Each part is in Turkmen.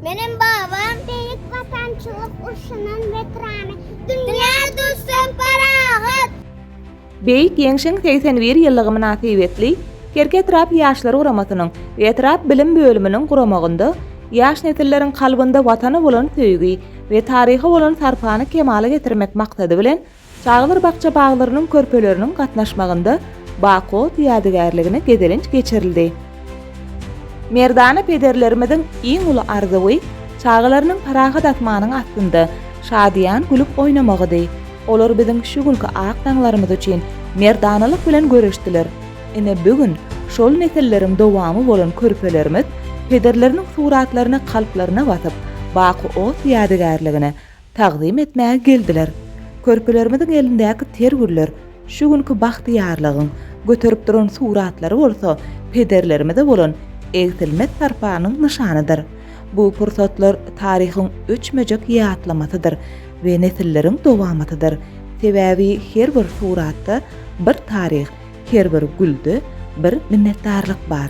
Meniň babam Beýik Watançylyk urşunyň weterany. Dünýä duşsak parahat! Beýik Ýeňşiň segsen bir ýyllygy mynasybetli Kerki etrap Ýaşlar guramasynyň we etrap bilim bölüminiň guramagynda ýaş nesilleriň kalbynda Watana bolan söýgi we taryha bolan sarpany kemala getirmek maksady bilen, Çagalar bakja-baglarynyň körpeleriniň gatnaşmagynda Bakot ýadygärligine gezelenç geçirildi. Merdana pederlerimiziň iň uly arzuwy çagalarynyň parahat asmanyň astynda şadyýan gülüp oýnamagydy. Olar biziň şu günki ak daňlarymyz üçin merdanalyk bilen göreşdiler. Ine, bu gün şol nesilleriň dowamy bolan körpelerimiz pederleriniň suratlaryny kalplaryna basyp, Bakot ýadygärligine, Tagzym etmäge geldiler. Körpelerimiziň elindäki ter güller, şu günki bagtyýarlygyň, göterip duran suratlary bolsa pederlerimize bolan egsilmez sarpanyň nyşanydyr. Bu pursatlar taryhyň öçmejek ýatlamasydyr we nesilleriň dowamatydyr. Sebäbi her bir suratda bir taryh, her bir gülde bir minnetdarlyk bar.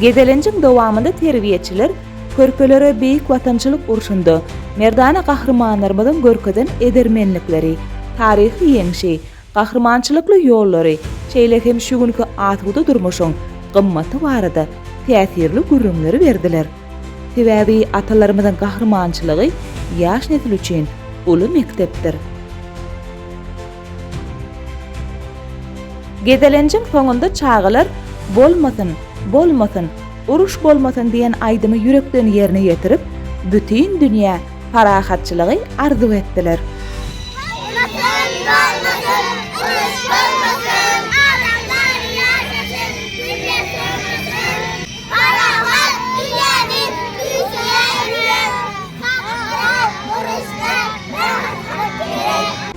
Gezelenjiň dowamynda terbiýeçiler körpelere Beýik Watançylyk urşunda merdana gahrymanlarymyzyň görkezen edermenlikleri, taryhy ýeňşi, gahrymançylykly ýollary, şeýle hem şu günki asuda durmuşyň gymmaty barada täsirli gürrüňleri berdiler. Sebäbi atalarymyzyň gahrymançylygy ýaş nesil üçin uly mekdepdir. Gezelenjiň soňunda çagalar Bolmasyn, bolmasyn, uruş bolmasyn diýen aýdymy ýürekden ýerine ýetirip, bütin dünýä parahatçylygy arzuw etdiler.